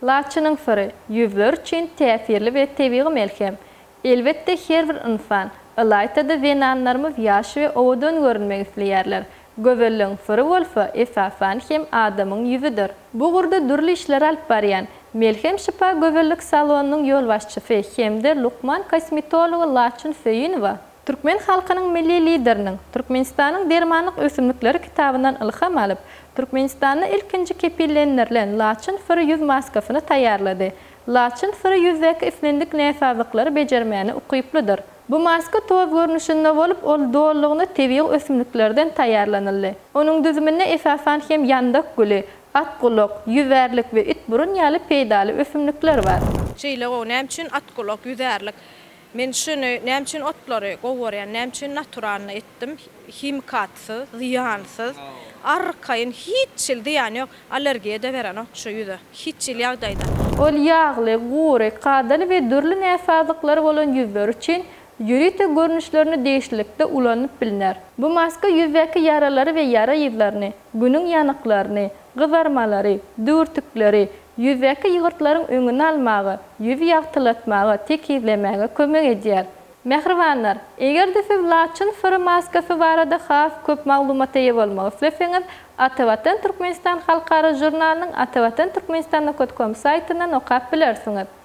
Laçynyň syry, ýüzler üçin täsirli we tebigy melhem. Elbetde her bir ynsan, ylaýta-da zenanlarymyz ýaş we owadan görünmek isleýärler. Gözelligiň syry bolsa, esasan hem adamyň ýüzüdir. Bu ugurda dürli işleri alyp barýan, Melhem Şypa gözellik salonynyň ýolbaşçysy hem-de lukman kosmetology Laçyn Söýünowa, Türkmen halkynyň Milli Lideriniň Türkmenistanyň dermanlyk ösümlikleri kitabyndan ylham alyp, Türkmenistanda ilkinji kepillendirilen laçyn syry ýüz maskasyny taýýarlady. Laçyn syry ýüzdäki islendik näsazlyklary bejermäne ukyplydyr. Bu maska toz görnüşinde bolup, ol dolulygyna tebigy ösümliklerden taýýarlanyldy. Onuň düzüminde esasan hem ýandak güli, at gulak, ýüzärlik we itburun ýaly peýdaly ösümlikler bar. Şeýle gowy näme üçin at gulak, ýüzärlik? Men şuny näme üçin otlary gowy görýän, näme üçin naturalnyý etdim, himikatsyz, zyýansyz, arkaýyn, hiç hil zyýany ýok, allergiýa-da berenok şu ýüze, hiç hil ýagdaýda. Ol ýagly, gury, kadaly we dürli näsazlyklary bolan ýüzler üçin ýörite görnüşlerini degişlilikde ulanyp bilner. Bu maska ýüzdäki ýaralary we ýara yzlaryny, günüň ýanyklaryny, gyzarmalary, düwürtikleri, Ýüzdäki ýygyrtlaryň öňüni almaga, ýüzi ýagtylatmaga, tekizlemäge kömek edýär. Mähribanlar, eger-de siz laçyn syry maskasy barada has köp maglumata eýe bolmak isleseňiz, Atavatan Türkmenistan halkara žurnalynyň Atavatan Türkmenistan nokot kom saýtyndan okap bilersiňiz.